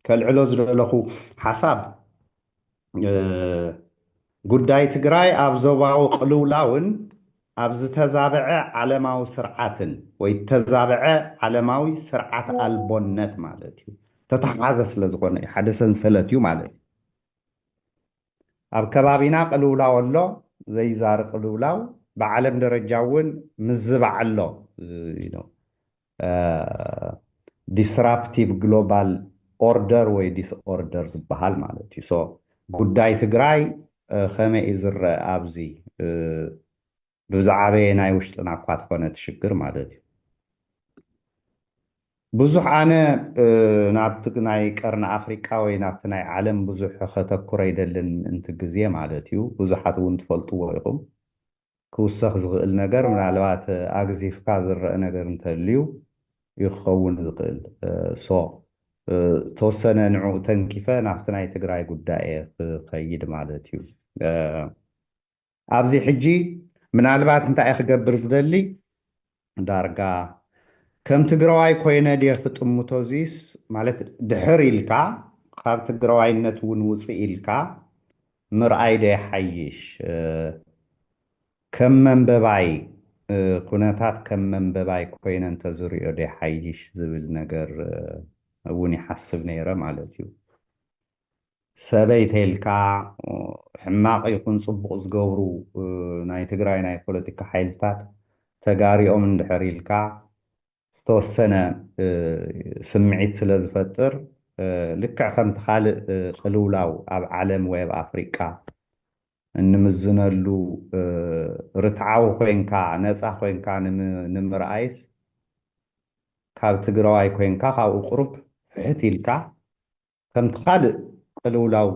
ከልዕሎ ዝደለኹ ሓሳብ ጉዳይ ትግራይ ኣብ ዞባዊ ቅልውላውን ኣብ ዝተዛበዐ ዓለማዊ ስርዓትን ወይ ተዛበዐ ዓለማዊ ስርዓት ኣልቦነት ማለት እዩ ተተሓሓዘ ስለ ዝኾነ እዩ ሓደ ሰንሰለት እዩ ማለት እዩ ኣብ ከባቢና ቅልውላው ኣሎ ዘይዛሪ ቅልውላው ብዓለም ደረጃ እውን ምዝባዕ ኣሎ ዲስራፕቲቭ ግሎባል ኦርደር ወይ ዲስኦርደር ዝበሃል ማለት እዩ። ሶ ጉዳይ ትግራይ ከመይ እዩ ዝረአ ኣብዚ ብዝዓበየ ናይ ውሽጥና እኳ ተኾነ እቲ ሽግር ማለት እዩ። ብዙሕ ኣነ ናብቲ ናይ ቀርኒ ኣፍሪቃ ወይ ናብቲ ናይ ዓለም ብዙሕ ከተኩረ ይደልን እንቲ ግዜ ማለት እዩ። ብዙሓት እውን ትፈልጥዎ ኢኹም። ክውሰኽ ዝኽእል ነገር ምናልባት ኣግዚፍካ ዝረእ ነገር እንተልዩ ዩ ክኸውን ዝኽእል so ዝተወሰነ ንዕኡ ተንኪፈ ናብቲ ናይ ትግራይ ጉዳይ እየ ክኸይድ ማለት ዩ ኣብዚ ሕጂ ምናልባት እንታይ እየ ክገብር ዝደሊ ዳርጋ ከም ትግራዋይ ኮይነ ድየ ክጥምቶ እዙይስ ማለት ድሕር ኢልካ ኻብ ትግራዋይነት እውን ውፅእ ኢልካ ምርኣይ ዶ ይሓይሽ ከም መንበባይ ኩነታት ከም መንበባይ ኮይነ እንተዝሪኦ ዶ ይሓይሽ ዝብል ነገር እውን ይሓስብ ነይረ ማለት እዩ። ሰበይ ተልካ ሕማቅ ይኩን ጽቡቅ ዝገብሩ ናይ ትግራይ ናይ ፖለቲካ ሓይልታት ተጋሪኦም እንድሕር ኢልካ ዝተወሰነ ስምዒት ስለ ዝፈጥር ልክዕ ከምቲ ካልእ ቅልውላው ኣብ ዓለም ወይ ኣብ ኣፍሪቃ እንምዝነሉ ርትዓዊ ኮይንካ ነጻ ኮይንካ ንምርኣይስ ካብ ትግራዋይ ኮይንካ ካብኡ ቁሩብ ፍሕት ኢልካ ከምቲ ካልእ ቅልውላው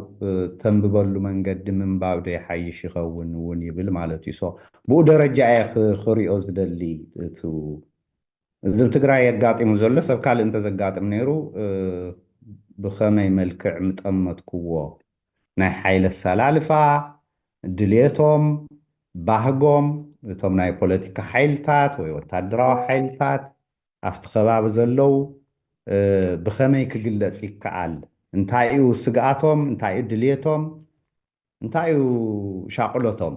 ተንብበሉ መንገዲ ምንባብዶ ይሓይሽ ይኸውን እውን ይብል ማለት እዩ። so ብኡ ደረጃ እየ ክሪኦ ዝደሊ እቱ እዚ እብ ትግራይ ኣጋጢሙ ዘሎ ሰብ ካልእ እንተዘጋጥም ነይሩ ብኸመይ መልክዕ ምጠመትኩዎ ናይ ሓይሊ ኣሰላልፋ ድሌቶም ባህጎም እቶም ናይ ፖለቲካ ሓይልታት ወይ ወታደራዊ ሓይልታት ኣብቲ ከባቢ ዘለው ብኸመይ ክግለፅ ይከኣል? እንታይ እዩ ስግኣቶም? እንታይ እዩ ድልየቶም? እንታይ እዩ ሻቕሎቶም?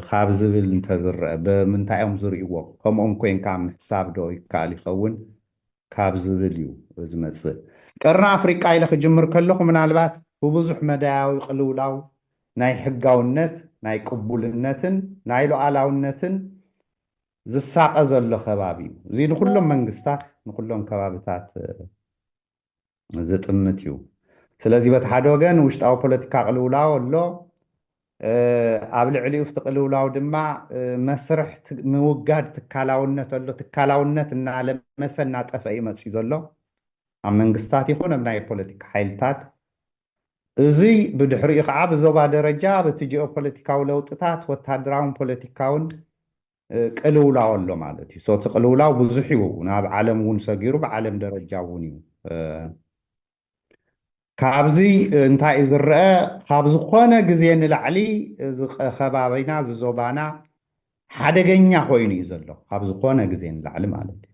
ካብ ዝብል እንተዝረኣ፣ ብምንታይ እዮም ዝርእይዎ? ከምኦም ኮይንካ ምሕሳብ ዶ ይከኣል ይኸውን? ካብ ዝብል እዩ ዝመፅእ። ቀርኒ ኣፍሪቃ ኢለ ክጅምር ከለኹ ምናልባት ብብዙሕ መዳያዊ ቅልውላው ናይ ሕጋውነት፣ ናይ ቅቡልነትን ናይ ሉኣላውነትን ዝሳቐ ዘሎ ከባቢ እዩ። እዚ ንኩሎም መንግስታት ንኩሎም ከባብታት ዝጥምት እዩ። ስለዚ በቲ ሓደ ወገን ውሽጣዊ ፖለቲካ ቅልውላው ኣሎ፣ ኣብ ልዕሊኡ ፍቲ ቅልውላው ድማ መስርሕ ምውጋድ ትካላውነት ኣሎ። ትካላውነት እናለመሰ እናጠፈ እዩ መፂኡ ዘሎ ኣብ መንግስታት ይኹን ኣብ ናይ ፖለቲካ ሓይልታት እዙይ ብድሕሪኡ ከዓ ብዞባ ደረጃ በቲ ጂኦፖለቲካዊ ለውጥታት ወታደራውን ፖለቲካውን ቅልውላው ኣሎ ማለት እዩ። እቲ ቅልውላው ብዙሕ እዩ፣ ናብ ዓለም እውን ሰጊሩ ብዓለም ደረጃ እውን እዩ። ካብዚ እንታይ እዩ ዝረአ? ካብ ዝኾነ ግዜ ንላዕሊ እዚ ከባቢና እዚ ዞባና ሓደገኛ ኮይኑ እዩ ዘሎ፣ ካብ ዝኾነ ግዜ ንላዕሊ ማለት እዩ።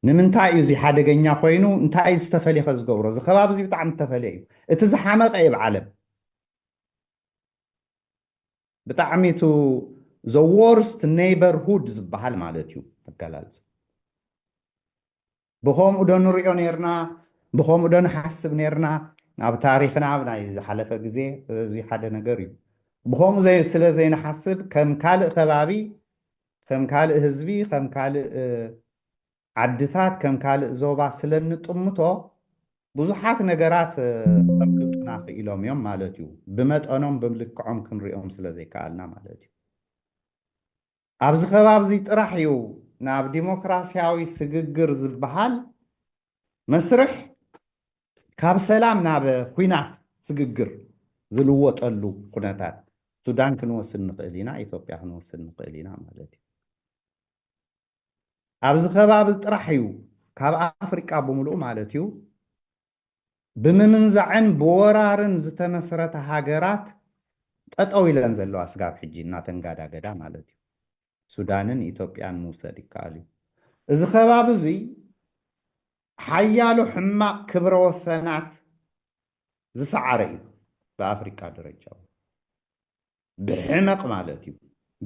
ንምንታይ እዩ እዚ ሓደገኛ ኮይኑ እንታይ እዩ ዝተፈልየ ከ ዝገብሮ እዚ ከባቢ እዚ ብጣዕሚ ዝተፈልየ እዩ እቲ ዝሓመቐ እዩ ብዓለም ብጣዕሚ እቲ ዘዎርስት ኔይበርሁድ ዝበሃል ማለት እዩ ኣገላልፅ ብከምኡ ዶ ንሪኦ ነርና ብከምኡ ዶ ንሓስብ ነርና ኣብ ታሪክና ኣብ ናይ ዝሓለፈ ግዜ እዚ ሓደ ነገር እዩ ብከምኡ ስለ ዘይንሓስብ ከም ካልእ ከባቢ ከም ካልእ ህዝቢ፣ ከም ካልእ ዓድታት፣ ከም ካልእ ዞባ ስለ እንጥምቶ ብዙሓት ነገራት ከምልጡና ክኢሎም እዮም ማለት እዩ። ብመጠኖም ብልክዖም ክንሪኦም ስለ ዘይከኣልና ማለት እዩ። ኣብዚ ከባቢ እዚ ጥራሕ እዩ ናብ ዲሞክራስያዊ ስግግር ዝበሃል መስርሕ ካብ ሰላም ናብ ኹናት ስግግር ዝልወጠሉ ኩነታት ሱዳን ክንወስድ ንኽእል ኢና፣ ኢትዮጵያ ክንወስድ ንኽእል ኢና ማለት እዩ። ኣብዚ ከባቢ ጥራሕ እዩ ካብ ኣፍሪቃ ብምልኡ ማለት እዩ ብምምንዛዕን ብወራርን ዝተመስረተ ሃገራት ጠጠው ኢለን ዘለዋ ስጋብ ሕጂ እናተንጋዳገዳ ማለት እዩ ሱዳንን ኢትዮጵያን ምውሰድ ይከኣል እዩ። እዚ ከባቢ እዚ ሓያሎ ሕማቕ ክብረ ወሰናት ዝሰዓረ እዩ። ብኣፍሪቃ ደረጃ እውን ብሕመቕ ማለት እዩ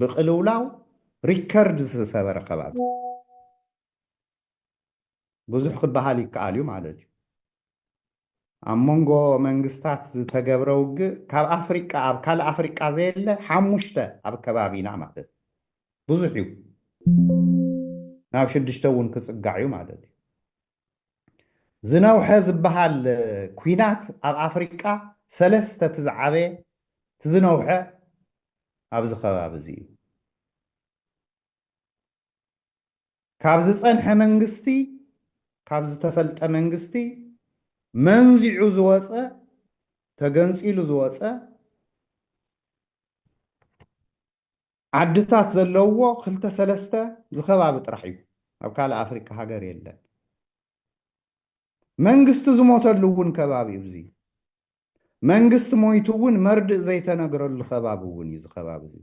ብቅልውላው ሪከርድ ዝሰበረ ከባቢ ብዙሕ ክበሃል ይከኣል እዩ ማለት እዩ። ኣብ መንጎ መንግስታት ዝተገብረ ውግእ ካብ ኣፍሪቃ ኣብ ካልእ ኣፍሪቃ ዘየለ ሓሙሽተ ኣብ ከባቢና ማለት እዩ ብዙሕ እዩ ናብ ሽዱሽተ እውን ክፅጋዕ እዩ ማለት እዩ ዝነውሐ ዝበሃል ኩናት ኣብ ኣፍሪቃ ሰለስተ እቲ ዝዓበየ እቲ ዝነውሐ ኣብዚ ከባቢ እዚ እዩ ካብ ዝጸንሐ መንግስቲ፣ ካብ ዝተፈልጠ መንግስቲ መንዚዑ ዝወጸ፣ ተገንጺሉ ዝወጸ፣ ዓድታት ዘለውዎ ክልተ ሰለስተ ዝከባቢ ጥራሕ እዩ። ኣብ ካልእ ኣፍሪቃ ሃገር የለን። መንግስቲ ዝሞተሉ እውን ከባቢ እዩ። መንግስቲ ሞይቱ እውን መርድእ ዘይተነግረሉ ከባቢ እውን እዩ እዚ ከባቢ እዚ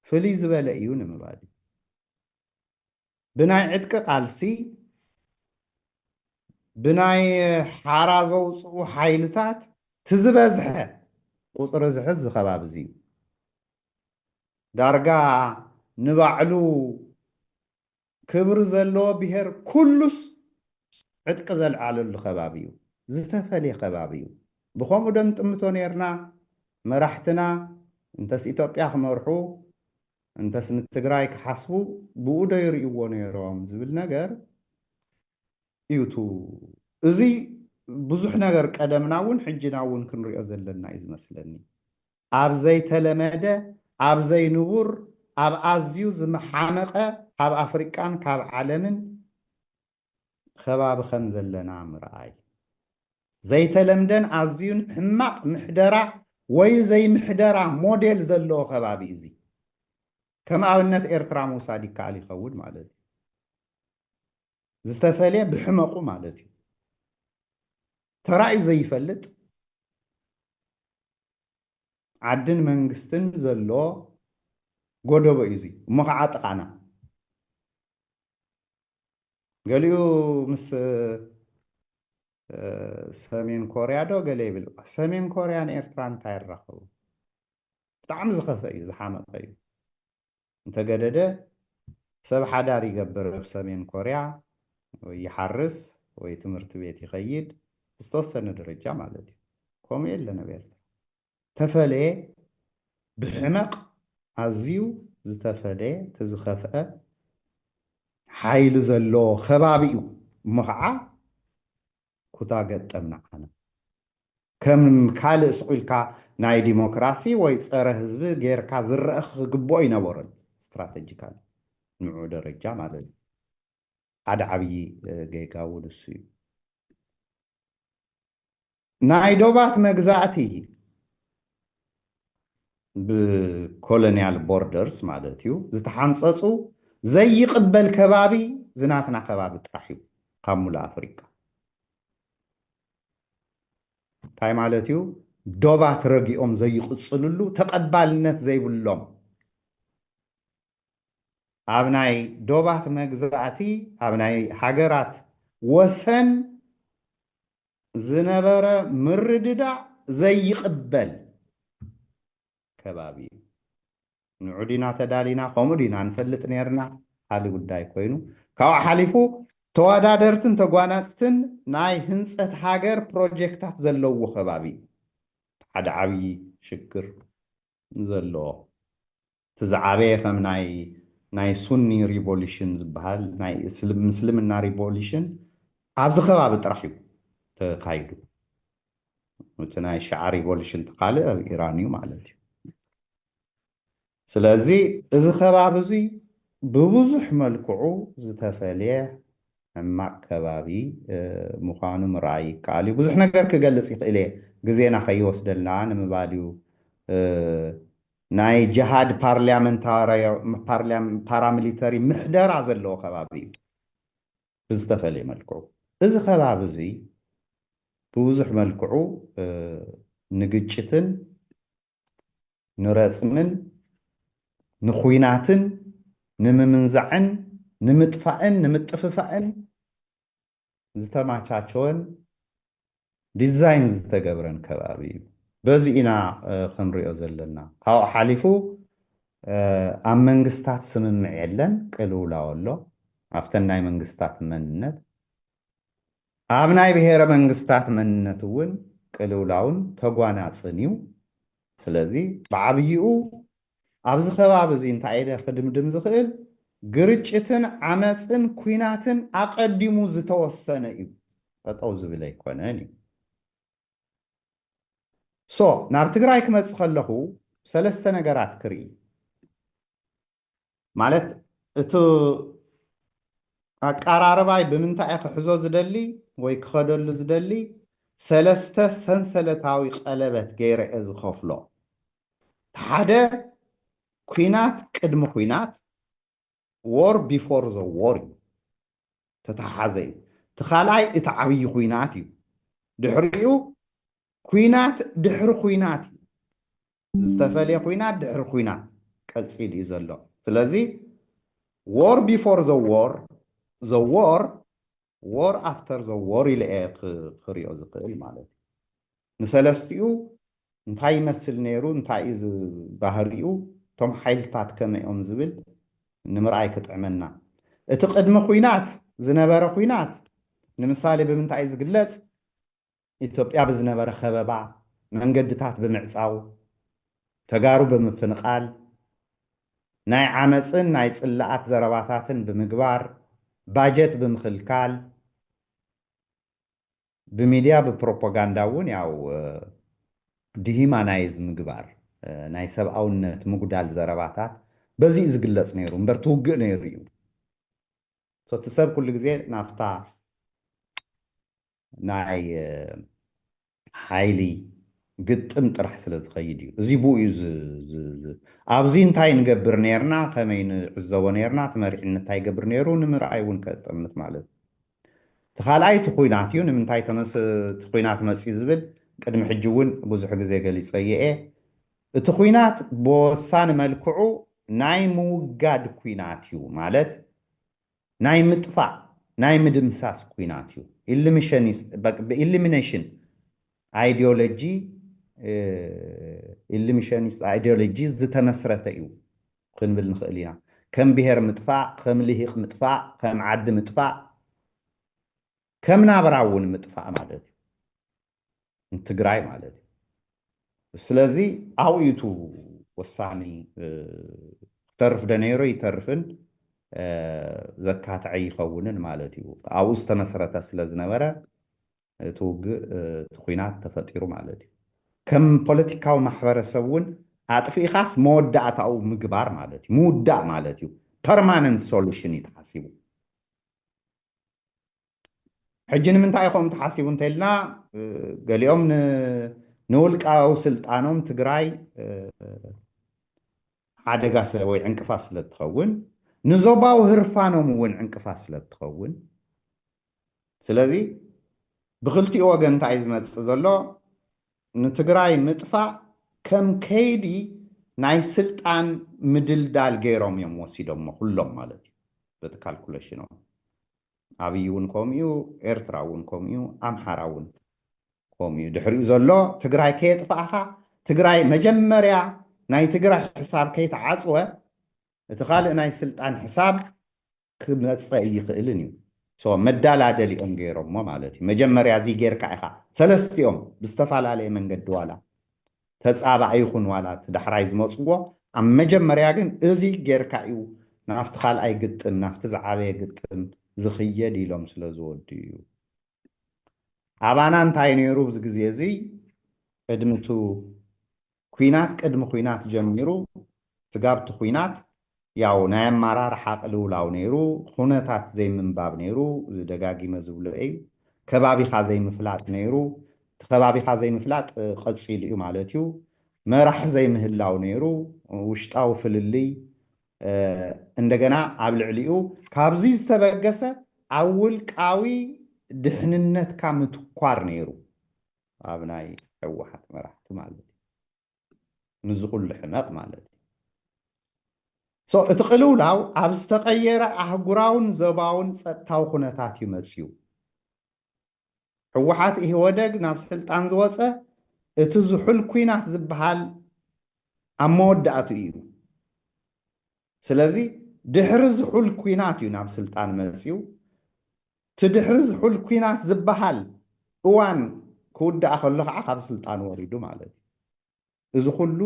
ፍልይ ዝበለ እዩ ንምባል እዩ ብናይ ዕጥቂ ቃልሲ ብናይ ሓራ ዘውፅኡ ሓይልታት ትዝበዝሐ ቁፅሪ ዝሕዝ ዝከባቢ እዚ እዩ ዳርጋ ንባዕሉ ክብሪ ዘለዎ ብሄር ኩሉስ ዕጥቂ ዘልዓለሉ ከባቢ እዩ። ዝተፈልየ ከባቢ እዩ። ብኸምኡ ዶ ንጥምቶ ነይርና? መራሕትና እንተስ ኢትዮጵያ ክመርሑ እንተስ ንትግራይ ክሓስቡ ብኡ ዶ ይርእይዎ ነይሮም ዝብል ነገር እዩ እቱ እዙይ ብዙሕ ነገር ቀደምና እውን ሕጂና እውን ክንሪኦ ዘለና እዩ ዝመስለኒ። ኣብ ዘይተለመደ፣ ኣብ ዘይንቡር፣ ኣብ ኣዝዩ ዝመሓመቐ ካብ ኣፍሪቃን ካብ ዓለምን ኸባቢ ከም ዘለና ምርኣይ። ዘይተለምደን ኣዝዩን ሕማቕ ምሕደራ ወይ ዘይምሕደራ ሞዴል ዘለዎ ኸባቢ እዩ እዚ። ከም ኣብነት ኤርትራ ምውሳድ ይከኣል ይኸውን ማለት እዩ። ዝተፈልየ ብሕመቑ ማለት እዩ። ተራእዩ ዘይፈልጥ፣ ዓድን መንግስትን ዘሎ ጎደቦ እዩ እዙይ እሞ ከዓ ጥቓና ገሊኡ ምስ ሰሜን ኮርያ ዶ ገለ ይብል ሰሜን ኮርያን ኤርትራ እንታይ ይራኸቡ ብጣዕሚ ዝኸፈ እዩ ዝሓመቐ እዩ እንተገደደ ሰብ ሓዳር ይገብር ኣብ ሰሜን ኮርያ ወይ ይሓርስ ወይ ትምህርቲ ቤት ይኸይድ ብዝተወሰነ ደረጃ ማለት እዩ ከምኡ የለን ኣብ ኤርትራ ተፈለየ ብሕመቕ ኣዝዩ ዝተፈለየ እቲ ዝኸፍአ ሓይሊ ዘለዎ ከባቢ እዩ እሞ ከዓ ኩታ ገጠም ንዓና ከም ካልእ ሱቅ ኢልካ ናይ ዲሞክራሲ ወይ ጸረ ህዝቢ ጌርካ ዝረእ ክግብኦ ኣይነበሮን ስትራተጂካሊ ንዑ ደረጃ ማለት እዩ ሓደ ዓብዪ ጌጋ እውን እሱ እዩ ናይ ዶባት መግዛእቲ ብኮሎንያል ቦርደርስ ማለት እዩ ዝተሓንፀፁ ዘይቕበል ከባቢ ዝናትና ከባቢ ጥራሕ እዩ ካብ ሙሉእ ኣፍሪቃ እንታይ ማለት እዩ ዶባት ረጊኦም ዘይቕፅልሉ ተቐባልነት ዘይብሎም ኣብ ናይ ዶባት መግዛእቲ ኣብ ናይ ሃገራት ወሰን ዝነበረ ምርድዳእ ዘይቕበል ከባቢ እዩ። ንዑ ዲና ተዳሊና ከምኡ ዲና ንፈልጥ ነርና ካሊ ጉዳይ ኮይኑ ካብኡ ሓሊፉ ተወዳደርትን ተጓናፅትን ናይ ህንፀት ሃገር ፕሮጀክታት ዘለዎ ከባቢ ሓደ ዓብዪ ሽግር ዘለዎ እቲ ዝዓበየ ከም ናይ ናይ ሱኒ ሪቮሉሽን ዝበሃል ናይ ምስልምና ሪቮሉሽን ኣብዚ ከባቢ ጥራሕ እዩ ተካይዱ እቲ ናይ ሸዓ ሪቮሉሽን ተካልእ ኣብ ኢራን እዩ ማለት እዩ ስለዚ እዚ ከባቢ እዙይ ብብዙሕ መልክዑ ዝተፈልየ ሕማቅ ከባቢ ምዃኑ ምርኣይ ይከኣል እዩ ብዙሕ ነገር ክገልፅ ይኽእል እየ ግዜና ከይወስደልና ንምባል እዩ ናይ ጀሃድ ፓራሚሊተሪ ምሕደራ ዘለዎ ከባቢ እዩ ብዝተፈለየ መልክዑ። እዚ ከባቢ እዙይ ብብዙሕ መልክዑ ንግጭትን ንረፅምን ንኹናትን ንምምንዛዕን ንምጥፋእን ንምጥፍፋእን ዝተማቻቸወን ዲዛይን ዝተገብረን ከባቢ እዩ። በዚ ኢና ክንሪኦ ዘለና። ካብኡ ሓሊፉ ኣብ መንግስታት ስምምዕ የለን፣ ቅልውላው ኣሎ። ኣብተን ናይ መንግስታት መንነት ኣብ ናይ ብሔረ መንግስታት መንነት እውን ቅልውላውን ተጓናፅን እዩ። ስለዚ ብዓብይኡ ኣብዚ ከባቢ እዚ እንታይ ኢለ ክድምድም ዝኽእል ግርጭትን ዓመጽን ኩናትን ኣቐዲሙ ዝተወሰነ እዩ ጠጠው ዝብል ኣይኮነን እዩ ሶ ናብ ትግራይ ክመጽእ ከለኹ ሰለስተ ነገራት ክርኢ ማለት እቲ ኣቀራርባይ ብምንታይ እየ ክሕዞ ዝደሊ ወይ ክኸደሉ ዝደሊ ሰለስተ ሰንሰለታዊ ቀለበት ገይረ እየ ዝኸፍሎ እቲ ሓደ ኩናት ቅድሚ ኩናት ዎር ቢፎር ዘ ዎር እዩ ተተሓሓዘ እዩ እቲ ካልኣይ እቲ ዓብዪ ኩናት እዩ ድሕሪኡ ኩናት ድሕሪ ኩናት እዩ ዝተፈልየ ኩናት ድሕሪ ኩናት ቀጺሉ እዩ ዘሎ ስለዚ ዎር ቢፎር ዘ ዎር ዘ ዎር ዎር ኣፍተር ዘ ዎር ኢለ እየ ክሪኦ ዝኽእል ማለት እዩ ንሰለስትኡ እንታይ ይመስል ነይሩ እንታይ እዩ ባህሪኡ እቶም ሓይልታት ከመይ እዮም ዝብል ንምርኣይ ክጥዕመና እቲ ቅድሚ ኩናት ዝነበረ ኩናት ንምሳሌ ብምንታይ ዝግለፅ ኢትዮጵያ ብዝነበረ ከበባ መንገድታት ብምዕፃው፣ ተጋሩ ብምፍንቓል፣ ናይ ዓመፅን ናይ ፅላኣት ዘረባታትን ብምግባር፣ ባጀት ብምኽልካል፣ ብሚድያ ብፕሮፖጋንዳ እውን ያው ዲሂማናይዝ ምግባር፣ ናይ ሰብኣውነት ምጉዳል ዘረባታት በዚ እዩ ዝግለፅ ነይሩ እምበር እቲ ውግእ ነይሩ እዩ። እቲ ሰብ ኩሉ ግዜ ናብታ ናይ ሓይሊ ግጥም ጥራሕ ስለ ዝኸይድ እዩ። እዚ ብኡ እዩ ኣብዚ እንታይ ንገብር ነርና፣ ከመይ ንዕዘቦ ነርና፣ እቲ መሪሕነት እንታይ ይገብር ነይሩ ንምርኣይ እውን ከጠምት ማለት እዩ። እቲ ካልኣይ እቲ ኩናት እዩ። ንምንታይ እቲ ኩናት መፅዩ ዝብል ቅድሚ ሕጂ እውን ብዙሕ ግዜ ገሊፀዮ እየ። እቲ ኩናት ብወሳኒ መልክዑ ናይ ምውጋድ ኩናት እዩ ማለት ናይ ምጥፋእ ናይ ምድምሳስ ኩናት እዩ። ብኢሊሚነሽን ኣይዲዮሎጂ ኢሊሚሸኒስት ኣይዲዮሎጂ ዝተመስረተ እዩ ክንብል ንኽእል ኢና። ከም ብሄር ምጥፋእ፣ ከም ልሂቅ ምጥፋእ፣ ከም ዓዲ ምጥፋእ፣ ከም ናብራ እውን ምጥፋእ ማለት እዩ። ንትግራይ ማለት እዩ ስለዚ ኣብኡ እዩ እቲ ወሳኒ ክተርፍ ዶ ነይሮ ይተርፍን ዘካትዐ ይኸውንን ማለት እዩ ኣብኡ ዝተመስረተ ስለ ዝነበረ እቲ ውግእ እቲ ኩናት ተፈጢሩ ማለት እዩ ከም ፖለቲካዊ ማሕበረሰብ እውን ኣጥፊእኻስ መወዳእታኡ ምግባር ማለት እዩ ምውዳእ ማለት እዩ ፐርማነንት ሶሉሽን እዩ ተሓሲቡ ሕጂ ንምንታይ ከምኡ ተሓሲቡ እንተኢልና ገሊኦም ንውልቃዊ ስልጣኖም ትግራይ ሓደጋ ወይ ዕንቅፋት ስለ እትኸውን ንዞባዊ ህርፋኖም እውን ዕንቅፋት ስለ እትኸውን ስለዚ ብክልቲኡ ወገን እንታይ ዝመፅእ ዘሎ ንትግራይ ምጥፋእ ከም ከይዲ ናይ ስልጣን ምድልዳል ገይሮም እዮም ወሲዶሞ ኩሎም ማለት እዩ በቲ ካልኩሌሽኖም ኣብይ ውን ከምኡዩ ኤርትራ ውን ከምኡዩ ኣምሓራ ውን ከምኡዩ ድሕሪኡ ዘሎ ትግራይ ከየጥፋእኻ ትግራይ መጀመርያ ናይ ትግራይ ሕሳብ ከይተዓፅወ እቲ ካልእ ናይ ስልጣን ሕሳብ ክመፀ እይኽእልን እዩ መዳላደሊኦም ገይሮሞ ማለት እዩ መጀመርያ እዚ ጌርካ ኢኻ ሰለስቲኦም ብዝተፈላለየ መንገዲ ዋላ ተጻባኢ ይኹን ዋላ እቲ ዳሕራይ ዝመጽዎ ኣብ መጀመርያ ግን እዚ ጌርካ እዩ ናብቲ ካልኣይ ግጥም ናብቲ ዝዓበየ ግጥም ዝኽየድ ኢሎም ስለ ዝወድኡ'ዩ። ኣባና እንታይ ነይሩ ኣብዚ ግዜ እዚ ቅድሚ እቲ ኲናት ቅድሚ ኲናት ጀሚሩ ስጋብ እቲ ኲናት ያው ናይ ኣማራርሓ ቅልውላው ነይሩ ኹነታት ዘይምንባብ ነይሩ ደጋጊመ ዝብሎ እይ ከባቢኻ ዘይምፍላጥ ነይሩ እቲ ከባቢኻ ዘይምፍላጥ ቐፂሉ እዩ ማለት እዩ መራሒ ዘይምህላው ነይሩ ውሽጣዊ ፍልልይ እንደገና ኣብ ልዕሊኡ ካብዙይ ዝተበገሰ ኣብ ውልቃዊ ድሕንነትካ ምትኳር ነይሩ ኣብ ናይ ሕወሓት መራሕቲ ማለት እዩ። ምስዚ ኩሉ ሕመቕ ማለት እዩ። ሶ እቲ ቅልውላው ኣብ ዝተቐየረ ኣህጉራውን ዘባውን ጸጥታዊ ኩነታት እዩ መጺኡ። ህወሓት ኢህወደግ ናብ ስልጣን ዝወጸ እቲ ዝሑል ኩናት ዝበሃል ኣብ መወዳእትኡ እዩ። ስለዚ ድሕሪ ዝሑል ኩናት እዩ ናብ ስልጣን መጺኡ። እቲ ድሕሪ ዝሑል ኲናት ዝበሃል እዋን ክውዳእ ከሎ ከዓ ካብ ስልጣን ወሪዱ ማለት እዩ። እዚ ኩሉ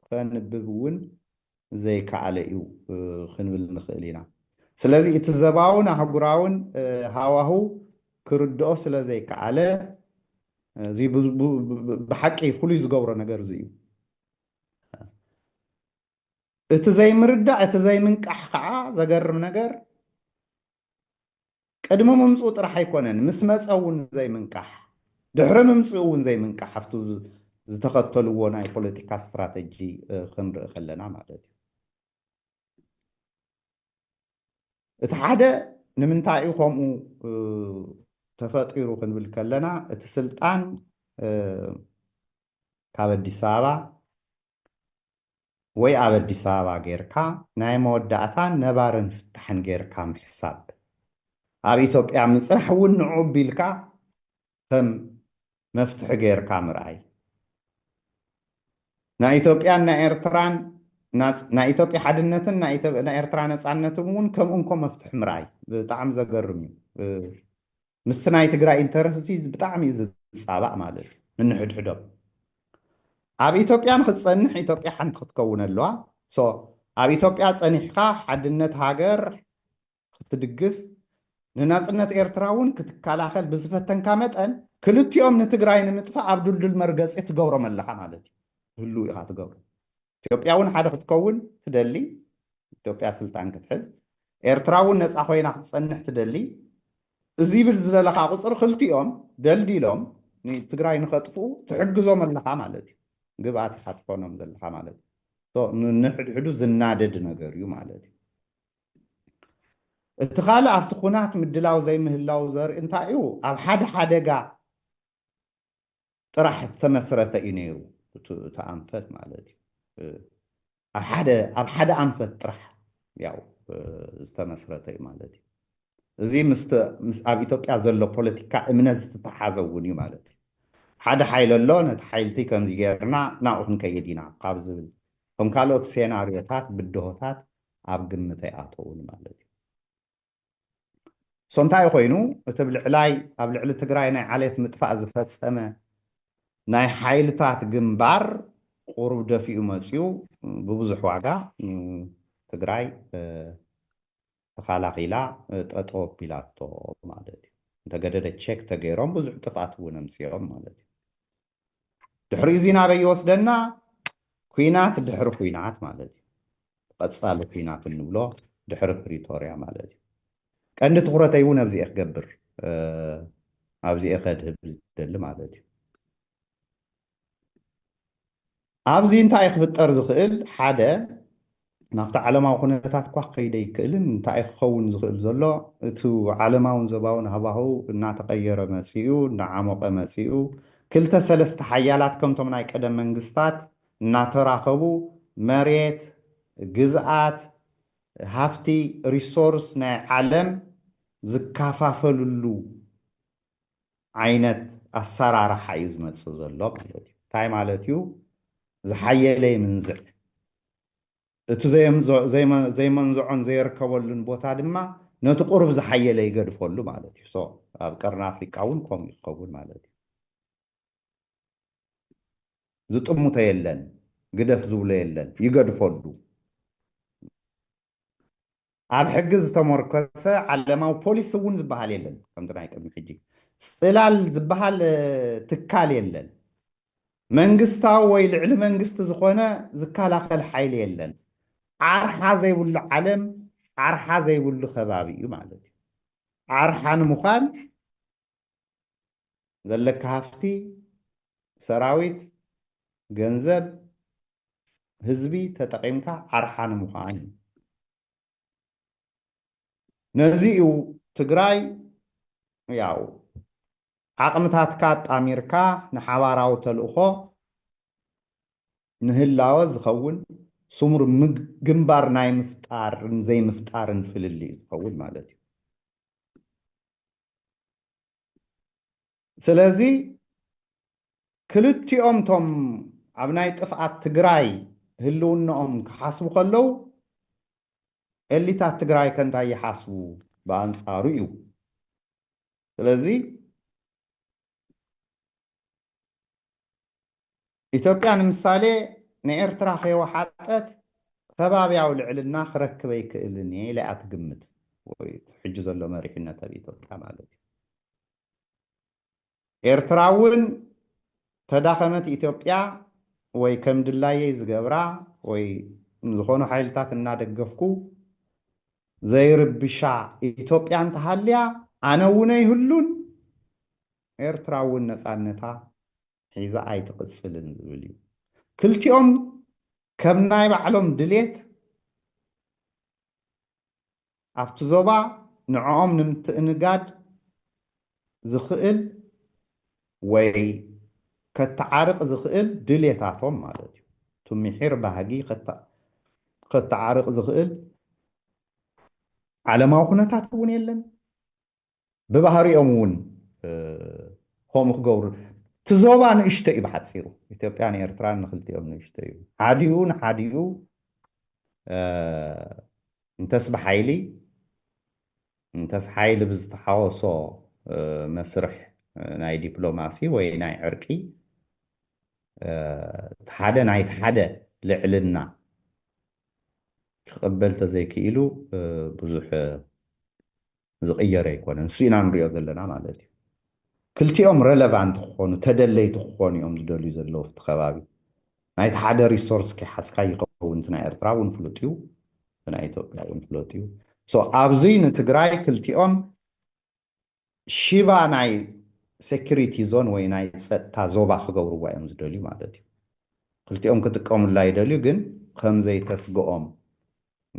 ከንብብ እውን ዘይከኣለ እዩ ክንብል ንኽእል ኢና። ስለዚ እቲ ዘባውን ኣህጉራውን ሃዋሁ ክርድኦ ስለ ዘይከኣለ እዚ ብሓቂ ፍሉይ ዝገብሮ ነገር እዚ እዩ። እቲ ዘይምርዳእ እቲ ዘይምንቃሕ ከዓ ዘገርም ነገር ቅድሚ ምምፅኡ ጥራሕ ኣይኮነን ምስ መፀ እውን ዘይምንቃሕ ድሕሪ ምምፅኡ እውን ዘይምንቃሕ ኣብቲ ዝተኸተልዎ ናይ ፖለቲካ ስትራተጂ ክንርኢ ከለና ማለት እዩ እቲ ሓደ ንምንታይ እዩ ከምኡ ተፈጢሩ ክንብል ከለና እቲ ስልጣን ካብ ኣዲስ ኣበባ ወይ ኣብ ኣዲስ ኣበባ ጌርካ ናይ መወዳእታን ነባርን ፍታሕን ጌርካ ምሕሳብ ኣብ ኢትዮጵያ ምጽናሕ እውን ንዑ ቢልካ ከም መፍትሒ ጌርካ ምርኣይ ናይ ኢትዮጵያን ናይ ኤርትራን ናይ ኢትዮጵያ ሓድነትን ናይ ኤርትራ ነፃነትን እውን ከምኡ እንኮ መፍትሒ ምርኣይ ብጣዕሚ ዘገርም እዩ ምስቲ ናይ ትግራይ ኢንተረስት እዚ ብጣዕሚ እዩ ዝፃባእ ማለት እዩ ንንሕድሕዶም ኣብ ኢትዮጵያ ንክትፀንሕ ኢትዮጵያ ሓንቲ ክትከውን ኣለዋ ሶ ኣብ ኢትዮጵያ ፀኒሕካ ሓድነት ሃገር ክትድግፍ ንናፅነት ኤርትራ እውን ክትከላኸል ብዝፈተንካ መጠን ክልቲኦም ንትግራይ ንምጥፋእ ኣብ ድልዱል መርገፂ ትገብሮም ኣለኻ ማለት እዩ ህልው ኢኻ ትገብሮ ኢትዮጵያ እውን ሓደ ክትከውን ትደሊ፣ ኢትዮጵያ ስልጣን ክትሕዝ፣ ኤርትራ እውን ነፃ ኮይና ክትፀንሕ ትደሊ፣ እዚ ብል ዝበለኻ ቁፅሪ ክልቲኦም ደልዲሎም ንትግራይ ንኸጥፍኡ ትሕግዞም ኣለኻ ማለት እዩ። ግብኣት ኢኻ ትኾኖም ዘለኻ ማለት እዩ። ንሕድሕዱ ዝናደድ ነገር እዩ ማለት እዩ። እቲ ካልእ ኣብቲ ኩናት ምድላው ዘይምህላው ዘርኢ እንታይ እዩ ኣብ ሓደ ሓደጋ ጥራሕ እተመስረተ እዩ ነይሩ እቲ ኣንፈት ማለት እዩ ኣብ ሓደ ኣንፈት ጥራሕ ያው ዝተመስረተ እዩ ማለት እዩ እዚ ምስ ኣብ ኢትዮጵያ ዘሎ ፖለቲካ እምነት ዝተተሓዘ እውን እዩ ማለት እዩ ሓደ ሓይሊ ኣሎ ነቲ ሓይልቲ ከምዚ ገይርና ናብኡ ክንከይድ ኢና ካብ ዝብል ከም ካልኦት ሴናርዮታት ብድሆታት ኣብ ግምት ኣይኣተውን ማለት እዩ ሶንታይ ኮይኑ እቲ ብ ልዕላይ ኣብ ልዕሊ ትግራይ ናይ ዓሌት ምጥፋእ ዝፈጸመ ናይ ሓይልታት ግንባር ቁሩብ ደፊኡ መጺኡ ብብዙሕ ዋጋ ትግራይ ተኻላኺላ ጠጠው ኣቢላቶ ማለት እዩ። እንተገደደ ቼክ ተገይሮም ብዙሕ ጥፍኣት እውን ኣምጺኦም ማለት እዩ። ድሕሪ እዚ ናበይ ይወስደና ኩናት ድሕሪ ኩናት ማለት እዩ ቐፃሊ ኩናት እንብሎ ድሕሪ ፕሪቶርያ ማለት እዩ ቀንዲ ትኩረተይ እውን ኣብዚኤ ክገብር ኣብዚኤ ከድህብ ዝደሊ ማለት እዩ ኣብዚ እንታይ እዩ ክፍጠር ዝኽእል? ሓደ ናብቲ ዓለማዊ ኩነታት እኳ ክኸይደ ይክእልን እንታይ እዩ ክኸውን ዝኽእል ዘሎ እቲ ዓለማውን ዞባውን ሃዋህው እናተቐየረ መፂኡ፣ እናዓሞቐ መፂኡ፣ ክልተ ሰለስተ ሓያላት ከምቶም ናይ ቀደም መንግስታት እናተራኸቡ መሬት፣ ግዝኣት፣ ሃፍቲ፣ ሪሶርስ፣ ናይ ዓለም ዝካፋፈልሉ ዓይነት ኣሰራርሓ እዩ ዝመፅእ ዘሎ ማለት እዩ። እንታይ ማለት እዩ? ዝሓየለ ይምንዝዕ፣ እቲ ዘይመንዝዖን ዘየርከበሉን ቦታ ድማ ነቲ ቁሩብ ዝሓየለ ይገድፈሉ ማለት እዩ። ሶ ኣብ ቀርኒ ኣፍሪቃ እውን ከምኡ እዩ ክኸውን ማለት እዩ። ዝጥምቶ የለን፣ ግደፍ ዝብሎ የለን፣ ይገድፈሉ። ኣብ ሕጊ ዝተሞርከሰ ዓለማዊ ፖሊሲ እውን ዝበሃል የለን። ከምቲ ናይ ቅድሚ ሕጂ ጽላል ዝበሃል ትካል የለን። መንግስታዊ ወይ ልዕሊ መንግስቲ ዝኾነ ዝከላኸል ሓይሊ የለን። ዓርሓ ዘይብሉ ዓለም ዓርሓ ዘይብሉ ከባቢ እዩ ማለት እዩ። ዓርሓ ንምዃን ዘለካ ሃፍቲ ሰራዊት ገንዘብ ህዝቢ ተጠቒምካ ዓርሓ ንምዃን እዩ ነዚ እዩ ትግራይ ያው ዓቕምታትካ ኣጣሚርካ ንሓባራዊ ተልእኾ ንህላወ ዝኸውን ስሙር ግንባር ናይ ምፍጣርን ዘይምፍጣርን ፍልልይ ዝኸውን ማለት እዩ ስለዚ ክልቲኦም ቶም ኣብ ናይ ጥፍኣት ትግራይ ህልውናኦም ክሓስቡ ከለው ኤሊታት ትግራይ ከንታይ ይሓስቡ ብኣንፃሩ እዩ ስለዚ ኢትዮጵያ ንምሳሌ ንኤርትራ ከይወሓጠት ከባብያዊ ልዕልና ክረክብ ኣይክእልን እየ ኢላ እያ ትግምት። ወይ እቲ ሕጂ ዘሎ መሪሕነት ኣብ ኢትዮጵያ ማለት እዩ። ኤርትራ እውን ተዳኸመት ኢትዮጵያ ወይ ከም ድላየይ ዝገብራ ወይ ንዝኾኑ ሓይልታት እናደገፍኩ ዘይርብሻ ኢትዮጵያ እንተሃልያ ኣነ እውን ኣይህሉን ኤርትራ እውን ነፃነታ ሒዛ ኣይትቕፅልን ዝብል እዩ። ክልቲኦም ከም ናይ ባዕሎም ድሌት ኣብቲ ዞባ ንዕኦም ንምትእንጋድ ዝኽእል ወይ ከተዓርቕ ዝኽእል ድሌታቶም ማለት እዩ። እቲ ምሒር ባህጊ ከተዓርቕ ዝኽእል ዓለማዊ ኩነታት እውን የለን። ብባህሪኦም እውን ከምኡ ክገብሩ እቲ ዞባ ንእሽቶ እዩ ብሓፂሩ ኢትዮጵያን ኤርትራን ንክልቲኦም ንእሽቶ እዩ ሓዲኡ ንሓዲኡ እንተስ ብሓይሊ እንተስ ሓይሊ ብዝተሓወሶ መስርሕ ናይ ዲፕሎማሲ ወይ ናይ ዕርቂ እቲ ሓደ ናይቲ ሓደ ልዕልና ክቕበል ተዘይክኢሉ ብዙሕ ዝቅየር ኣይኮነን ንሱ ኢና ንሪኦ ዘለና ማለት እዩ ክልቲኦም ረለቫንት ክኾኑ ተደለይቲ ክኾኑ እዮም ዝደልዩ ዘለዉ እቲ ከባቢ ናይቲ ሓደ ሪሶርስ ከይሓዝካ ይኸውን እቲ ናይ ኤርትራ እውን ፍሉጥ እዩ እቲ ናይ ኢትዮጵያ እውን ፍሉጥ እዩ ሶ ኣብዚ ንትግራይ ክልቲኦም ሽባ ናይ ሴኪሪቲ ዞን ወይ ናይ ፀጥታ ዞባ ክገብርዋ እዮም ዝደልዩ ማለት እዩ ክልቲኦም ክጥቀሙላ ይደልዩ ግን ከምዘይተስግኦም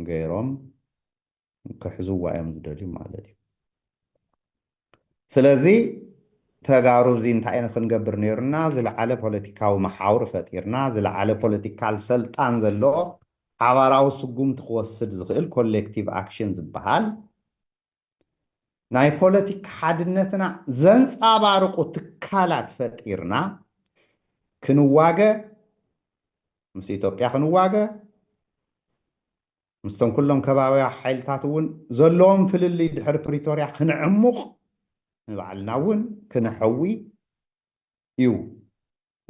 ገይሮም ክሕዝዋ እዮም ዝደልዩ ማለት እዩ ስለዚ ተጋሩ እዚ እንታይ ንክንገብር ነይሩና ዝለዓለ ፖለቲካዊ መሓውር ፈጢርና ዝለዓለ ፖለቲካል ሰልጣን ዘለዎ ሓባራዊ ስጉምቲ ክወስድ ዝኽእል ኮሌክቲቭ ኣክሽን ዝበሃል ናይ ፖለቲካ ሓድነትና ዘንፃባርቁ ትካላት ፈጢርና ክንዋገ ምስ ኢትዮጵያ ክንዋገ ምስቶም ኩሎም ከባብያ ሓይልታት እውን ዘለዎም ፍልልይ ድሕሪ ፕሪቶርያ ክንዕሙቕ ንባዕልና እውን ክነሐዊ እዩ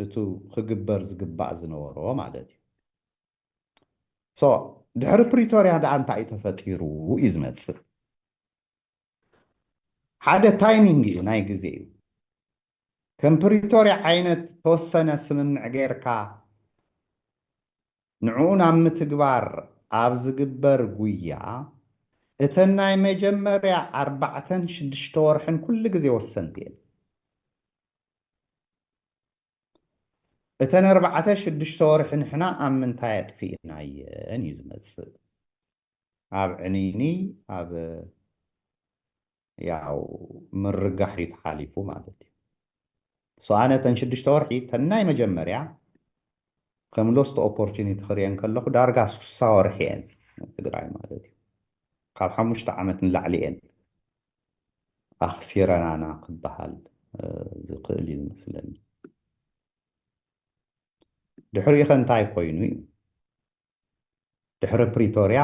እቱ ክግበር ዝግባእ ዝነበሮ ማለት እዩ። ሶ ድሕሪ ፕሪቶርያ ደኣ እንታይ እዩ ተፈጢሩ እዩ ዝመፅእ ሓደ ታይሚንግ እዩ ናይ ግዜ እዩ። ከም ፕሪቶርያ ዓይነት ተወሰነ ስምምዕ ገይርካ ንዕኡ ናብ ምትግባር ኣብ ዝግበር ጉያ እተን ናይ መጀመርያ ኣርባዕተን ሽዱሽተ ወርሕን ኩሉ ግዜ ወሰንቲ እየን። እተን ኣርባዕተ ሽዱሽተ ወርሒ ንሕና ኣብ ምንታይ ኣጥፊእናየን እዩ ዝመጽእ ኣብ ዕንይንይ ኣብ ያው ምርጋሕ እዩ ተሓሊፉ ማለት እዩ ሶ ኣነ ተን ሽዱሽተ ወርሒ ተናይ መጀመርያ ከም ሎስት ኦፖርቹኒቲ ክርየን ከለኹ ዳርጋ ስሳ ወርሒ እየን ትግራይ ማለት እዩ ካብ ሓሙሽተ ዓመት ንላዕሊ እየን ኣኽሲረናና ክበሃል ዝኽእል እዩ ዝመስለኒ ድሕሪኡ ኸ እንታይ ኮይኑ እዩ ድሕሪ ፕሪቶርያ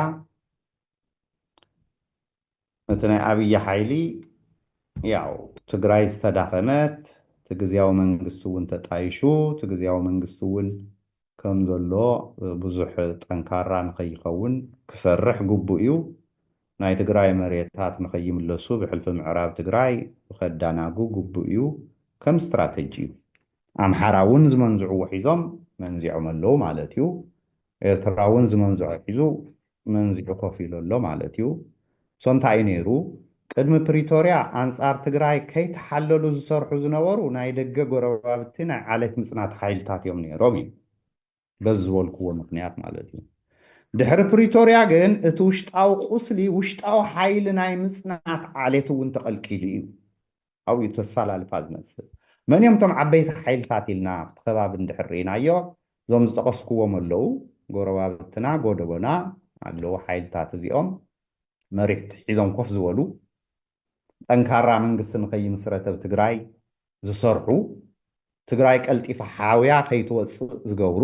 እቲ ናይ ኣብይ ሓይሊ ያው ትግራይ ዝተዳኸመት እቲ ግዝያዊ መንግስቲ እውን ተጣይሹ እቲ ግዝያዊ መንግስቲ እውን ከም ዘሎ ብዙሕ ጠንካራ ንኸይኸውን ክሰርሕ ግቡእ እዩ። ናይ ትግራይ መሬታት ንኸይምለሱ ብሕልፊ ምዕራብ ትግራይ ከዳናጉ ግቡእ እዩ ከም ስትራተጂ እዩ። ኣምሓራ እውን ዝመንዝዕዎ ሒዞም መንዚዖም ኣለዉ ማለት እዩ። ኤርትራ እውን ዝመንዝዖ ሒዙ መንዚዑ ኮፍ ኢሉ ኣሎ ማለት እዩ። So እንታይ እዩ ነይሩ? ቅድሚ ፕሪቶርያ ኣንጻር ትግራይ ከይተሓለሉ ዝሰርሑ ዝነበሩ ናይ ደገ ጎረባብቲ ናይ ዓሌት ምጽናት ሓይልታት እዮም ነይሮም እዩ። በዚ ዝበልክዎ ምኽንያት ማለት እዩ። ድሕሪ ፕሪቶርያ ግን እቲ ውሽጣዊ ቁስሊ ውሽጣዊ ሓይሊ ናይ ምፅናት ዓሌት እውን ተቐልቂሉ እዩ ኣብኡ ተሳላልፋ ዝመፅእ። መን እዮም እቶም ዓበይቲ ሓይልታት ኢልና ኣብቲ ከባቢ እንድሕር ርኢናዮ እዞም ዝጠቐስክዎም ኣለዉ፣ ጎረባብትና ጎደቦና ኣለዉ ሓይልታት እዚኦም መሪሕቲ ሒዞም ኮፍ ዝበሉ ጠንካራ መንግስቲ ንከይምስረት ኣብ ትግራይ ዝሰርሑ፣ ትግራይ ቀልጢፋ ሓውያ ከይትወፅእ ዝገብሩ፣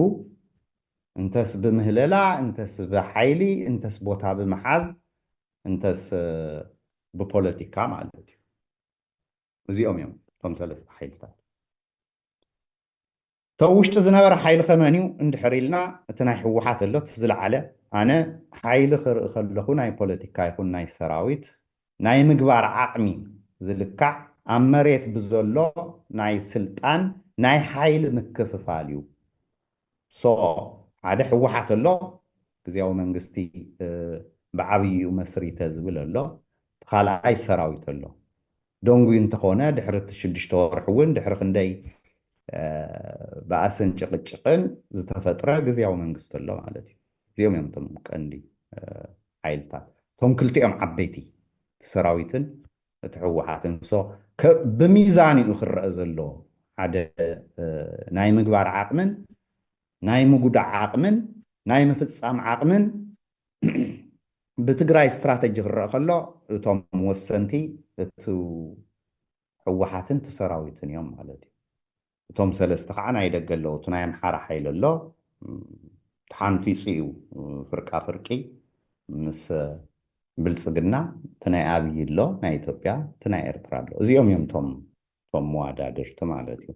እንተስ ብምህለላ፣ እንተስ ብሓይሊ፣ እንተስ ቦታ ብምሓዝ፣ እንተስ ብፖለቲካ ማለት እዩ። እዚኦም እዮም እቶም ሰለስተ ሓይልታት። ተው ውሽጢ ዝነበረ ሓይልኸ መንዩ እንድሕር ኢልና እቲ ናይ ህወሓት ኣሎ እቲ ዝለዓለ ኣነ ሓይሊ ክርኢ ከለኹ ናይ ፖለቲካ ይኹን ናይ ሰራዊት ናይ ምግባር ዓቕሚ ዝልካዕ ኣብ መሬት ብዘሎ ናይ ስልጣን ናይ ሓይሊ ምክፍፋል እዩ so ሓደ ህወሓት ኣሎ ግዝያዊ መንግስቲ ብዓብይኡ መስሪተ ዝብል ኣሎ እቲ ካልኣይ ሰራዊት ኣሎ ደንጉዩ እንተኾነ ድሕሪ እቲ ሽዱሽተ ወርሒ እውን ድሕሪ ክንደይ ባእስን ጭቕጭቕን ዝተፈጥረ ግዝያዊ መንግስቲ ኣሎ ማለት እዩ። እዚኦም እዮም እቶም ቀንዲ ሓይልታት እቶም ክልቲኦም ዓበይቲ እቲ ሰራዊትን እቲ ህወሓትን ሶ ብሚዛን እዩ ክረአ ዘለዎ ሓደ ናይ ምግባር ዓቕምን ናይ ምጉዳዕ ዓቕምን ናይ ምፍፃም ዓቕምን ብትግራይ ስትራተጂ ክረኣ ከሎ እቶም ወሰንቲ እቱ ህወሓትን እቲ ሰራዊትን እዮም ማለት እዩ። እቶም ሰለስተ ከዓ ናይ ደገ ኣለዉ። እቲ ናይ ኣምሓራ ሓይሊ ኣሎ ተሓንፊፁ እዩ ፍርቃ ፍርቂ ምስ ብልፅግና እቲ ናይ ኣብይ ኣሎ ናይ ኢትዮጵያ እቲ ናይ ኤርትራ ኣሎ እዚኦም እዮም እቶም እቶም መዋዳድርቲ ማለት እዩ።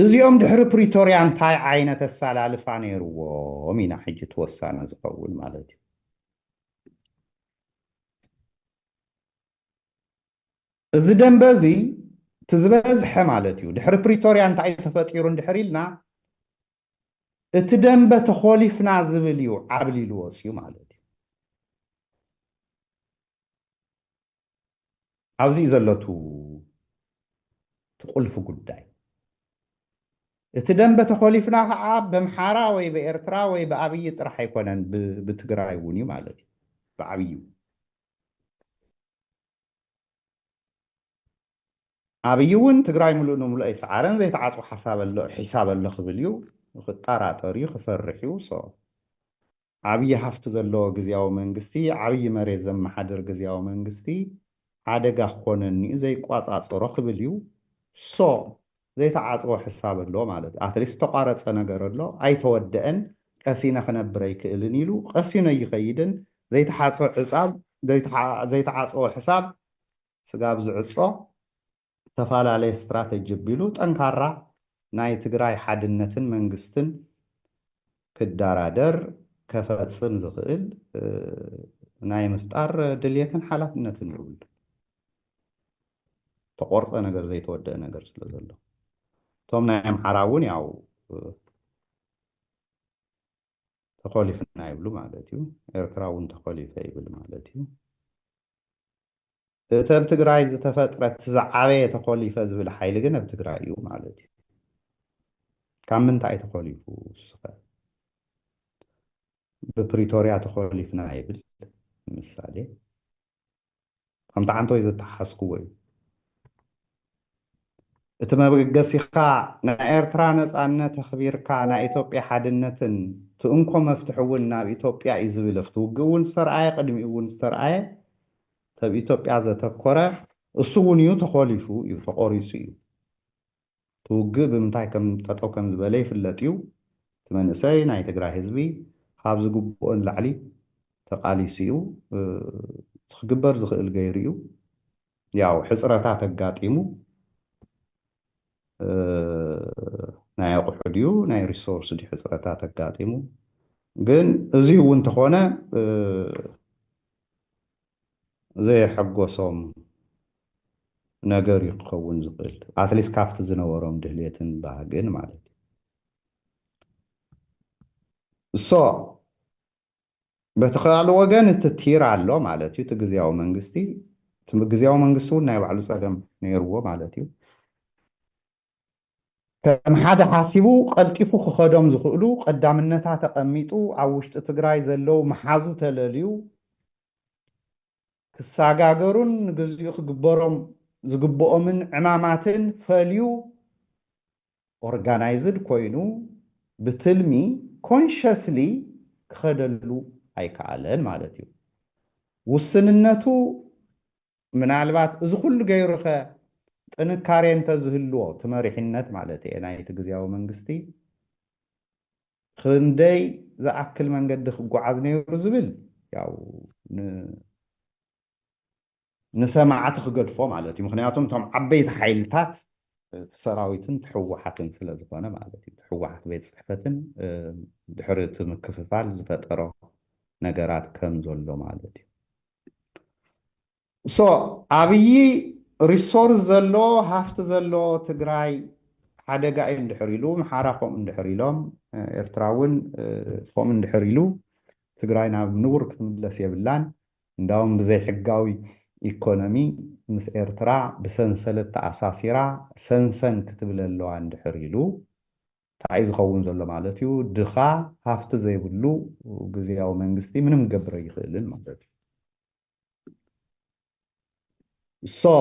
እዚኦም ድሕሪ ፕሪቶርያ እንታይ ዓይነት ኣሳላልፋ ነይርዎም ኢና ሕጂ እቲ ወሳኒ ዝኸውን ማለት እዩ። እዚ ደንበ እዚ እቲ ዝበዝሐ ማለት እዩ ድሕሪ ፕሪቶርያ እንታይ እዩ ተፈጢሩ እንድሕር ኢልና እቲ ደንበ ተኾሊፍና ዝብል እዩ ዓብሊሉ ወፅዩ ማለት እዩ። ኣብዚ እዩ ዘሎ እቲ ቁልፊ ጉዳይ። እቲ ደንበ ተኾሊፍና ከዓ በምሓራ ወይ በኤርትራ ወይ ብኣብዪ ጥራሕ ኣይኮነን ብትግራይ እውን እዩ ማለት እዩ ብዓብዩ ኣብይ እውን ትግራይ ምሉእ ንምሉእ ኣይሰዓረን ዘይተዓፅወ ሓሳብ ኣሎ ሒሳብ ኣሎ ክብል እዩ ክጣራጠር እዩ ክፈርሕ እዩ so ዓብይ ሃፍቲ ዘለዎ ግዝያዊ መንግስቲ ዓብይ መሬት ዘመሓድር ግዝያዊ መንግስቲ ሓደጋ ክኾነኒ እዩ ዘይቋፃፀሮ ክብል እዩ so ዘይተዓፅወ ሕሳብ ኣሎ ማለት እዩ ኣትሊስት ዝተቋረፀ ነገር ኣሎ ኣይተወደኣን ቀሲነ ክነብር ኣይክእልን ኢሉ ቀሲኑ ኣይኸይድን ዘይተሓፅወ ሕፃብ ዘይተሓ ዘይተዓፀወ ሕሳብ ስጋብ ዝዕጾ ዝተፋላለየ ስትራተጂ ኣቢሉ ጠንካራ ናይ ትግራይ ሓድነትን መንግስትን ክዳራደር ከፈጽም ዝኽእል ናይ ምፍጣር ድልየትን ሓላፍነትን ይብሉ። ተቆርጸ ነገር ዘይተወደእ ነገር ስለ ዘሎ እቶም ናይ ኣምሓራ እውን ያው ተኾሊፍና ይብሉ ማለት እዩ። ኤርትራ እውን ተኾሊፈ ይብል ማለት እዩ። እቲ ኣብ ትግራይ ዝተፈጥረ እቲ ዝዓበየ ተኾሊፈ ዝብል ሓይሊ ግን ኣብ ትግራይ እዩ ማለት እዩ። ካብ ምንታይ ተኾሊፉ ስኸ ብፕሪቶርያ ተኾሊፍና ይብል ንምሳሌ ከምቲ ዓንተወይ ዘተሓስክዎ እዩ። እቲ መብገሲኻ ናይ ኤርትራ ነጻነት ኣኽቢርካ ናይ ኢትዮጵያ ሓድነትን እቲ እንኮ መፍትሒ እውን ናብ ኢትዮጵያ እዩ ዝብል ኣብቲ ውግእ እውን ዝተርኣየ ቅድሚኡ እውን ዝተርኣየ ተብ ኢትዮጵያ ዘተኮረ እሱ እውን እዩ ተኾሊፉ እዩ ተቖሪጹ እዩ። እቲ ውግእ ብምንታይ ከም ጠጠው ከም ዝበለ ይፍለጥ እዩ። እቲ መንእሰይ ናይ ትግራይ ህዝቢ ኻብ ዝግብኦ ንላዕሊ ተቓሊሱ እዩ። እቲ ክግበር ዝኽእል ገይሩ እዩ። ያው ሕፅረታት ኣጋጢሙ ናይ ኣቑሑ ድዩ ናይ ሪሶርስ ድዩ ሕፅረታት ኣጋጢሙ ግን እዙይ እውን ተኾነ ዘየሐጎሶም ነገር እዩ ክኸውን ዝኽእል ኣትሊስት ካብቲ ዝነበሮም ድህልትን ባህግን ማለት እዩ እሶ በቲ ካልእ ወገን እቲ ቲር ኣሎ ማለት እዩ እቲ ግዜያዊ መንግስቲ ግዜያዊ መንግስቲ እውን ናይ ባዕሉ ፀገም ነይርዎ ማለት እዩ ከም ሓደ ሓሲቡ ቀልጢፉ ክኸዶም ዝኽእሉ ቀዳምነታ ተቐሚጡ ኣብ ውሽጢ ትግራይ ዘለው መሓዙ ተለልዩ ክሳጋገሩን ንግዚኡ ክግበሮም ዝግብኦምን ዕማማትን ፈልዩ ኦርጋናይዝድ ኮይኑ ብትልሚ ኮንሸስሊ ክኸደሉ ኣይከኣለን ማለት እዩ። ውስንነቱ ምናልባት እዚ ኩሉ ገይሩኸ ጥንካሬ እንተዝህልዎ እቲ መሪሕነት ማለት እየ ናይቲ ግዝያዊ መንግስቲ ክንደይ ዝኣክል መንገዲ ክጓዓዝ ነይሩ ዝብል ያው ንሰማዕቲ ክገድፎ ማለት እዩ ምክንያቱም እቶም ዓበይቲ ሓይልታት እቲ ሰራዊትን ትሕወሓትን ስለ ዝኾነ ማለት እዩ ትሕወሓት ቤት ፅሕፈትን ድሕሪ እቲ ምክፍፋል ዝፈጠሮ ነገራት ከም ዘሎ ማለት እዩ ሶ ኣብይ ሪሶርስ ዘለዎ ሃፍቲ ዘለዎ ትግራይ ሓደጋ እዩ እንድሕር ኢሉ ምሓራ ከምኡ እንድሕር ኢሎም ኤርትራ እውን ከምኡ እንድሕር ኢሉ ትግራይ ናብ ንቡር ክትምለስ የብላን እንዳውም ብዘይሕጋዊ ኢኮኖሚ ምስ ኤርትራ ብሰንሰለት ተኣሳሲራ ሰንሰን ክትብል ኣለዋ እንድሕር ኢሉ ታኣዩ ዝኸውን ዘሎ ማለት እዩ ድኻ ሃፍቲ ዘይብሉ ግዝያዊ መንግስቲ ምንም ክገብር ኣይኽእልን ማለት እዩ so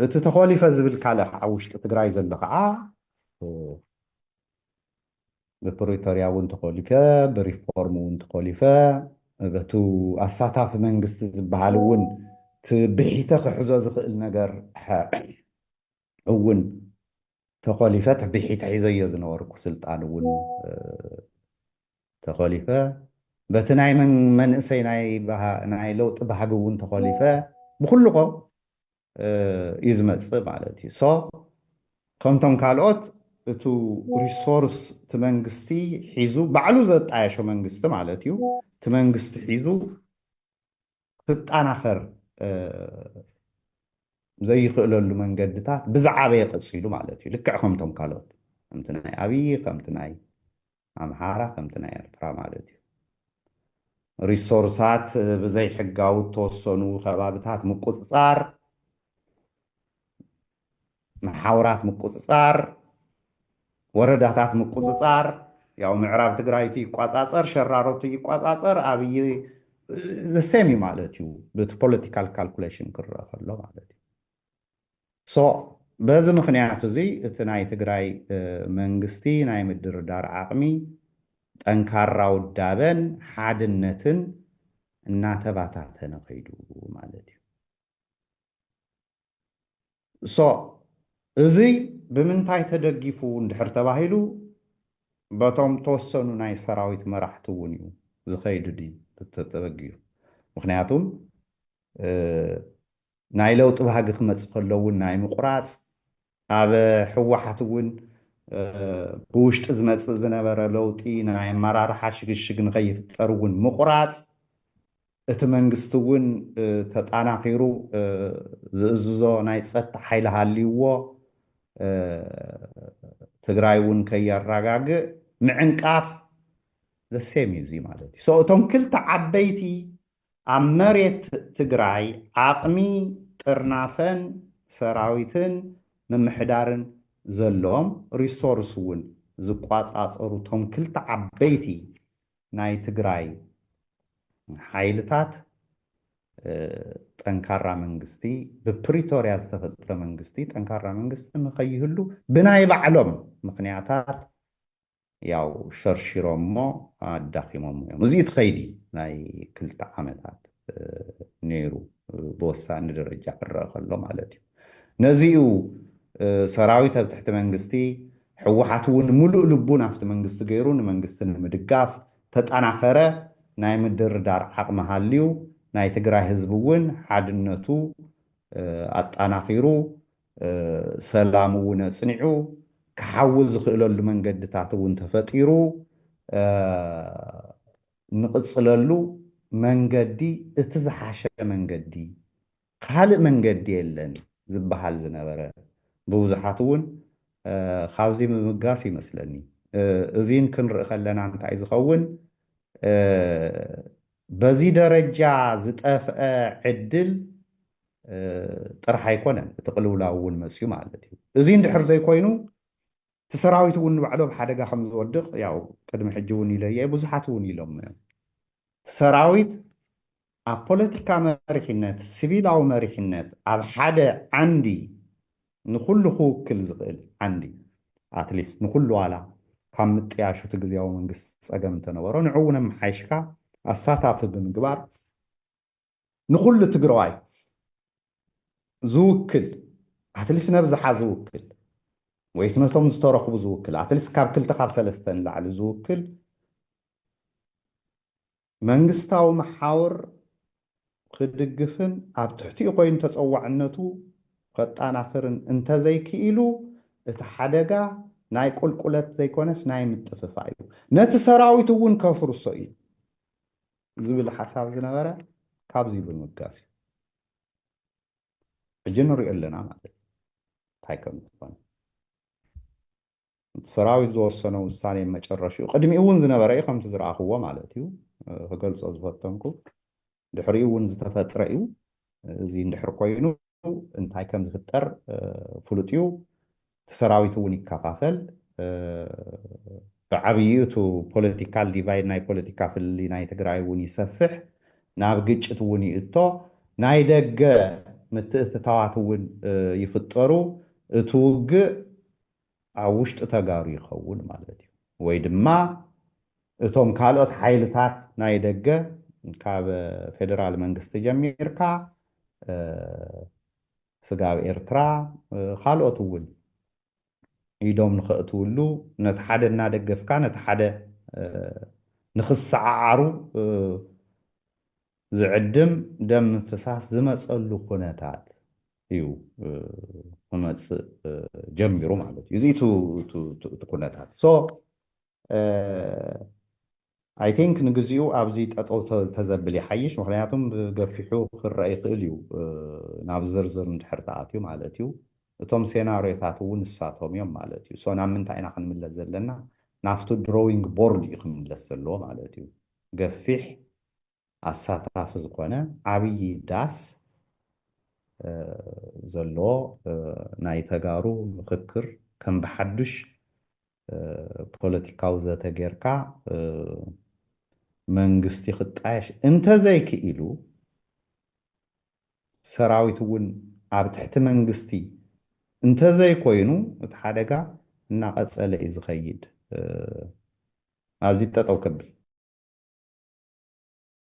እቲ ተኾሊፈ ዝብል ካልእ ከዓ ውሽጢ ትግራይ ዘሎ ከዓ ብፕሪቶሪያ እውን ተኾሊፈ ብሪፎርም እውን ተኾሊፈ በቱ ኣሳታፊ መንግስቲ ዝበሃል እውን እቲ ብሒተ ክሕዞ ዝኽእል ነገር እውን ተኾሊፈ ትቢሒት ሒዘዮ ዝነበርኩ ስልጣን እውን ተኾሊፈ በቲ ናይ መንእሰይ ናይ ለውጢ ባህጊ እውን ተኾሊፈ ብኩልኮ እዩ ዝመፅእ ማለት እዩ ሶ ከምቶም ካልኦት እቱ ሪሶርስ እቲ መንግስቲ ሒዙ ባዕሉ ዘጣየሾ መንግስቲ ማለት እዩ እቲ መንግስቲ ሒዙ ክትጣናኸር ዘይኽእለሉ መንገድታት ብዝዓበየ ቀፂሉ ማለት እዩ ልክዕ ከምቶም ካልኦት ከምቲ ናይ ኣብዪ ከምቲ ናይ ኣምሓራ ከምቲ ናይ ኤርትራ ማለት እዩ ሪሶርሳት ብዘይሕጋዊ እተወሰኑ ከባብታት ምቁፅፃር መሓውራት ምቁፅፃር፣ ወረዳታት ምቁፅፃር፣ ያው ምዕራብ ትግራይቱ ይቋፃፀር፣ ሸራሮቱ ይቋፃፀር፣ ኣብይ ዘሴም እዩ ማለት እዩ ብቲ ፖለቲካል ካልኩሌሽን ክረአ ከሎ ማለት እዩ ሶ በዚ ምክንያት እዚ እቲ ናይ ትግራይ መንግስቲ ናይ ምድርዳር ዓቕሚ ጠንካራ ውዳበን ሓድነትን እናተባታተነ ከይዱ ማለት እዩ ሶ እዚ ብምንታይ ተደጊፉ እንድሕር ተባሂሉ በቶም ተወሰኑ ናይ ሰራዊት መራሕቲ እውን እዩ ዝኸይድ ድዩ ተተበጊዩ ምክንያቱም ናይ ለውጢ ባህጊ ክመፅ ከሎ እውን ናይ ምቁራፅ ኣብ ህወሓት እውን ብውሽጢ ዝመፅእ ዝነበረ ለውጢ ናይ ኣመራርሓ ሽግሽግ ንከይፍጠር እውን ምቑራፅ እቲ መንግስቲ እውን ተጣናኺሩ ዝእዝዞ ናይ ፀጥታ ሓይሊ ሃልይዎ ትግራይ እውን ከየራጋግእ ምዕንቃፍ the same እዩ እዙይ ማለት እዩ so እቶም ክልተ ዓበይቲ ኣብ መሬት ትግራይ ዓቕሚ ጥርናፈን ሰራዊትን ምምሕዳርን ዘሎዎም፣ ሪሶርስ እውን ዝቋፃፀሩ እቶም ክልተ ዓበይቲ ናይ ትግራይ ሓይልታት ጠንካራ መንግስቲ፣ ብፕሪቶርያ ዝተፈጥረ መንግስቲ፣ ጠንካራ መንግስቲ ንከይህሉ ብናይ ባዕሎም ምኽንያታት ያው ሸርሺሮሞ ኣዳኺሞሞ እዮም። እዚ እቲ ከይዲ ናይ ክልተ ዓመታት ነይሩ ብወሳኒ ደረጃ ክረአ ከሎ ማለት እዩ። ነዚ እዩ ሰራዊት ኣብ ትሕቲ መንግስቲ ሕወሓት እውን ሙሉእ ልቡ ናብቲ መንግስቲ ገይሩ ንመንግስቲ ንምድጋፍ ተጠናኸረ ናይ ምድርዳር ዓቕሚ ሃልዩ ናይ ትግራይ ህዝቢ እውን ሓድነቱ ኣጠናኺሩ ሰላም እውን ኣፅኒዑ ክሓዊ ዝኽእለሉ መንገድታት እውን ተፈጢሩ ንቕፅለሉ መንገዲ እቲ ዝሓሸ መንገዲ ካልእ መንገዲ የለን ዝበሃል ዝነበረ ብብዙሓት እውን ካብዚ ምምጋስ ይመስለኒ እዚን ክንርኢ ከለና እንታይ ዝኸውን በዚ ደረጃ ዝጠፍአ ዕድል ጥራሕ ኣይኮነን፣ እቲ ቅልውላው እውን መፅዩ ማለት እዩ። እዚ እንድሕር ዘይኮይኑ እቲ ሰራዊት እውን ንባዕሉ ኣብ ሓደጋ ከም ዝወድቕ ያው ቅድሚ ሕጂ እውን ኢለዮ እየ፣ ብዙሓት እውን ኢሎሞ እዮም። እቲ ሰራዊት ኣብ ፖለቲካ መሪሕነት፣ ሲቪላዊ መሪሕነት ኣብ ሓደ ዓንዲ ንኹሉ ክውክል ዝኽእል ዓንዲ ኣትሊስት ንኹሉ ዋላ ካብ ምጥያሽ እቲ ግዝያዊ መንግስቲ ጸገም እንተነበሮ ንዕውን ኣመሓይሽካ ኣሳታፊ ብምግባር ንኹሉ ትግራዋይ ዝውክል ኣትሊስት ነብዝሓ ዝውክል ወይስ ነቶም ዝተረኽቡ ዝውክል ኣትሊስት ካብ ክልተ ካብ ሰለስተ ንላዕሊ ዝውክል መንግስታዊ መሓውር ኽድግፍን ኣብ ትሕቲኡ ኮይኑ ተፀዋዕነቱ ኸጣናኽርን እንተዘይክኢሉ እቲ ሓደጋ ናይ ቁልቁለት ዘይኮነስ ናይ ምጥፍፋእ እዩ። ነቲ ሰራዊት እውን ከፍርሶ እዩ ዝብል ሓሳብ ዝነበረ ካብዚ ብምብጋስ እዩ። ሕጂ ንሪኦ ኣለና ማለት እዩ እንታይ ከም ዝኾነ። እቲ ሰራዊት ዝወሰኖ ውሳኔ መጨረሽኡ ቅድሚኡ እውን ዝነበረ እዩ ከምቲ ዝረኣኽዎ ማለት እዩ ክገልፆ ዝፈተንኩ ድሕሪኡ እውን ዝተፈጥረ እዩ እዚ እንድሕር ኮይኑ እንታይ ከም ዝፍጠር ፍሉጥ እዩ እቲ ሰራዊት እውን ይከፋፈል ብዓብዪ እቱ ፖለቲካል ዲቫይድ ናይ ፖለቲካ ፍልሊ ናይ ትግራይ እውን ይሰፍሕ ናብ ግጭት እውን ይእቶ ናይ ደገ ምትእትታዋት እውን ይፍጠሩ እቲ ውግእ ኣብ ውሽጢ ተጋሩ ይኸውን ማለት እዩ። ወይ ድማ እቶም ካልኦት ሓይልታት ናይ ደገ ካብ ፌደራል መንግስቲ ጀሚርካ ስጋብ ኤርትራ ካልኦት እውን ኢዶም ንኸእትውሉ ነቲ ሓደ እናደገፍካ ነቲ ሓደ ንኽሰዓዓሩ ዝዕድም ደም ምፍሳስ ዝመፀሉ ኩነታት እዩ ክመፅእ ጀሚሩ ማለት እዩ እዚ እቲ ኩነታት ሶ ኣይ ቲንክ ንግዚኡ ኣብዚ ጠጠው ተዘብል ይሓይሽ ምክንያቱም ገፊሑ ክረአ ይኽእል እዩ ናብ ዝርዝር እንድሕር ተኣትዩ ማለት እዩ እቶም ሴናሪዮታት እውን ንሳቶም እዮም ማለት እዩ ሶ ናብ ምንታይ ኢና ክንምለስ ዘለና ናብቲ ድሮዊንግ ቦርድ እዩ ክምለስ ዘለዎ ማለት እዩ ገፊሕ ኣሳታፊ ዝኾነ ዓብዪ ዳስ ዘለዎ ናይ ተጋሩ ምኽክር ከም ብሓዱሽ ፖለቲካዊ ዘተ ጌርካ መንግስቲ ክጣየሽ እንተዘይክኢሉ ሰራዊት እውን ኣብ ትሕቲ መንግስቲ እንተዘይኮይኑ እቲ ሓደጋ እናቐፀለ እዩ ዝኸይድ። ኣብዚ ጠጠው ከብል።